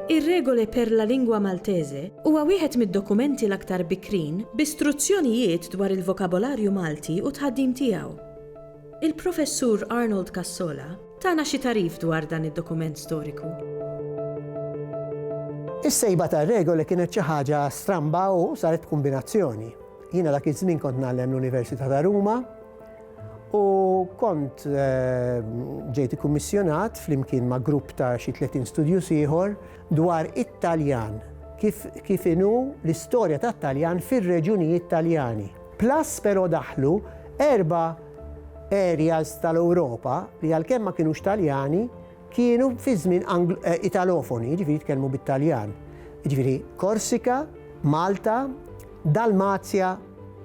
Ir-Regole per la Lingua Maltese huwa wieħed mid-dokumenti l-aktar bikrin bi struzzjonijiet dwar il-vokabolarju Malti u t-tħaddim tiegħu. Il-Professur Arnold Cassola, Tana xi tagħrif dwar dan id-dokument storiku. Is-sejba tar-regoli kienet xi ħaġa stramba u saret kombinazzjoni. Jiena dak iż-żmien kont nagħlem l-Università ta' Ruma u kont eh, ġejt ikkummissjonat flimkien ma' grupp ta' xi 30 studju ieħor dwar it-Taljan kif, kif inu l-istorja tat-Taljan fir-reġunijiet Taljani. Plus però daħlu erba' Aerials tal-Ewropa li għalkemm ma kinux Taljani, kienu fi żmien Angl, eh, Italofoni, jiġifieri jitkellmu bit-Taljan. Jiġifieri Korsika, Malta, Dalmazja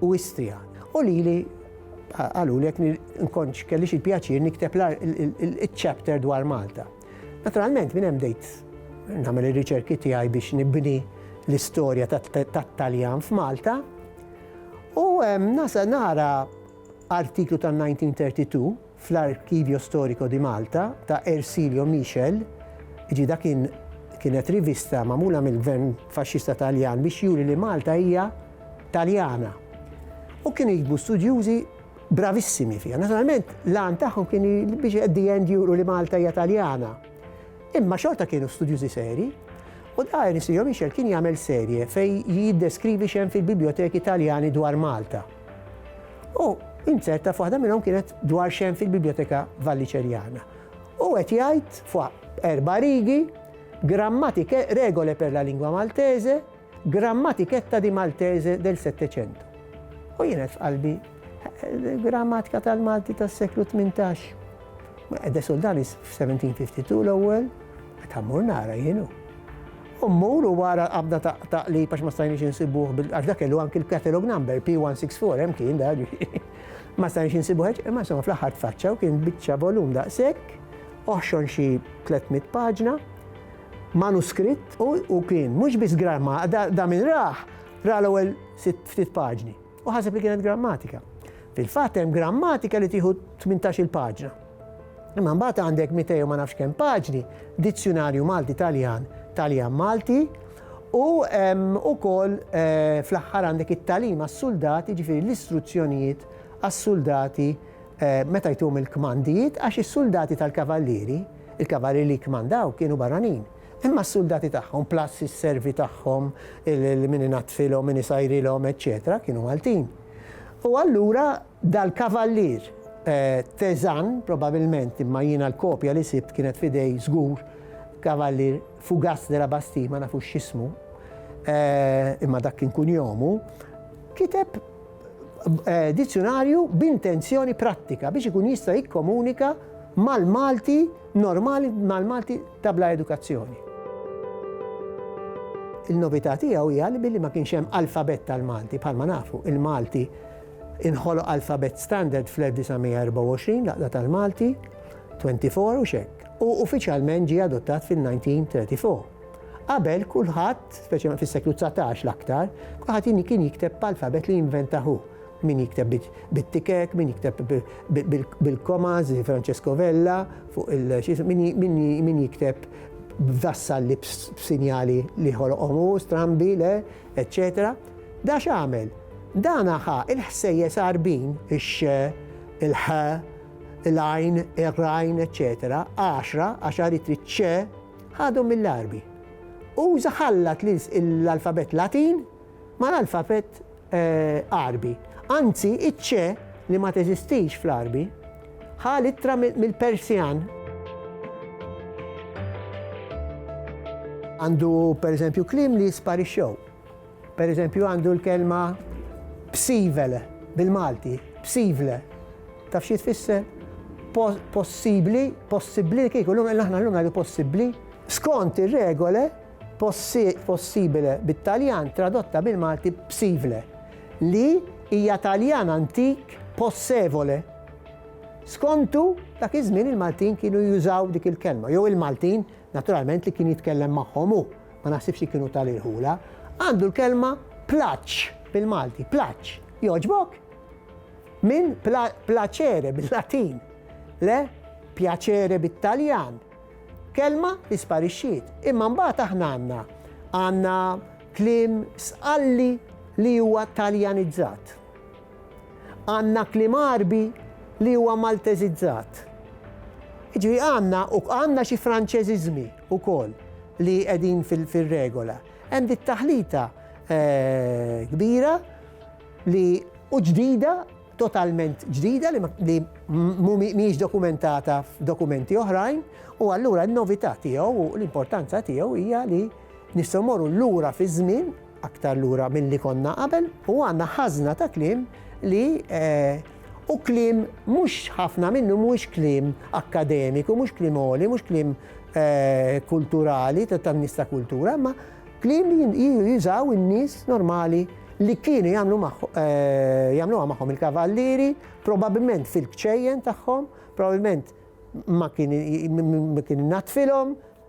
u Istria. U lili qalu li jekk nkontx kellix il-pjaċir nikteb il-chapter dwar Malta. Naturalment minn hemm dejt nagħmel ir-riċerki tiegħi biex nibni l-istorja tat-Taljan f'Malta. U hemm nasa nara Artiklu tan-1932 fl-Archivio Storico di Malta ta' Ercilio Michel, iġi dak kien kienet rivista magħmula mill-Gvern Faxxista Taljan biex juri li Malta hija Taljana. U kienu jiktbu studjużi bravissimi fiha. Naturalment, l-għan tagħhom kien biex at the end juru li Malta hija Taljana. Imma xorta kienu studjużi seri, u da Ercilio Michel kien jagħmel serje fejn jiddeskrivi x'hemm fil-biblioteki Taljani dwar Malta. U inzerta f'waħda minnhom kienet dwar xem fil-Biblioteka Valliċerjana. U qed jgħid fuq erba' rigi grammatike regole per la lingua maltese, grammatiketta di maltese del Settecentu. U jien qed f'qalbi grammatika tal-Malti tas-seklu 18. Qed soldanis f'1752 l-ewwel, qed ħammur nara jienu. U mmur u ara l-qabda ta' taqlib għax ma stajniex insibuh bil għax dak kellu anki l-catalogue number, P164 hemm kien dak ġifieri. Ma stajniex insibuh hekk, imma insomma fl-aħħar tfaċċa u kien biċċa volum daqshekk, oħxon xi 300 paġna, manuskritt u kien mhux biss grah ma da min rah, ra l-ewwel sitt ftit paġni. U ħaseb li kienet grammatika. Fil-fatt hemm grammatika li tieħu 18-il paġna. Imma mbagħad għandek 200 ma nafx kemm paġni, dizzjunarju Malti Taljan, Taljan Malti, u ukoll eh, fl-aħħar għandek it-talim għas-suldati, ġifieri l-istruzzjonijiet għas-suldati eh, meta jtum il-kmandijiet għax is-suldati tal-kavallieri, il-kavallieri li kmandaw kienu barranin. Imma s-suldati tagħhom, plus is-servi tagħhom, min inaddfilhom, min isajrilhom, eċċetera, kienu Maltin. U allura dal-kavallier Teżan, probabilment, imma jiena l-kopja li sibt kienet f'idej żgur kavallier Fugas de la Bastille, ma nafux x'ismu, imma dak kien kunjomu, kiteb dizzjunarju b'intenzjoni prattika biex ikun jista' jikkomunika mal-Malti normali mal-Malti ta' bla edukazzjoni. Il-novità tiegħu hija li billi ma kienx hemm alfabett tal-Malti bħalma nafu, il-Malti inħoloq alfabett standard fl-1924 laqda tal-Malti 24 u xek, u uffiċjalment ġie adottat fil-1934. Qabel, kulħadd, speċjalment fis-seklu dsatax l-aktar, kulħadd kien jikteb b'alfabet li inventah hu. Min jikteb bit-tikek, min jikteb bil-komas, Francesco Vella, fuq il min jikteb b'dassalli b'sinjali li ħoloqhom hu, strambi, le, eċċetera. Da x'għamel? Dana ħa l-ħsejjes għarbin, ix-x, il-ħ, il-għajn, ir-rajn, eċċetera, għaxra, għax aritri ċ, Ħadhom mill-Għarbi. Uża ħallat l-alfabett Latin mal-alfabett Għarbi. Anzi, iċ-ċe, li ma teżistix fl-Għarbi, ħa l-ittra mill-Persjan. Għandu, pereżempju, kliem li sparixxew. Per eżempju għandu l-kelma psivele bil-Malti, psivle. Taf xi tfisser? Possibli, possibli kieku l-lum aħna l-lum ngħidu possibli. Skont ir-regole possibile bit-Taljan tradotta bil-Malti psivle li hija Taljan antik possevole. Skontu dak iż-żmien il-Maltin kienu jużaw dik il-kelma, jew il-Maltin naturalment li kien jitkellem magħhom hu. ma naħsibx li kienu ta' l-irħula, għandu l-kelma plaċċ bil-Malti, plaċċ. Jogħġbok? Minn placere bil-Latin, le pjaċere bit-Taljan. Kelma li sparixxiet, imma mbagħad aħna għandna għandna kliem sqalli li huwa taljanizzat. Għandna kliem Għarbi li huwa Malteżizzat. Jiġifieri għandna u għandna xi Franċeżiżmi wkoll li qegħdin fir-regola. Hemm dik taħlita kbira li u ġdida, totalment ġdida li li mhijiex dokumentata f'dokumenti oħrajn u allura n-novità tiegħu u l-importanza tiegħu hija li nistgħu mmorru lura fiż-żmien aktar lura milli konna qabel u għandna ħażna ta' kliem li u kliem mhux ħafna minnu mhuwiex kliem akkademiku, mhux kliem għoli, mhux kliem kulturali ta' tan-nies ta' kultura, imma kliem li jużaw in-nies normali li kienu jagħmlu jagħmluha magħhom il-kavallieri, probabbilment fil-kċejjen tagħhom, probabbilment ma kien natfilhom,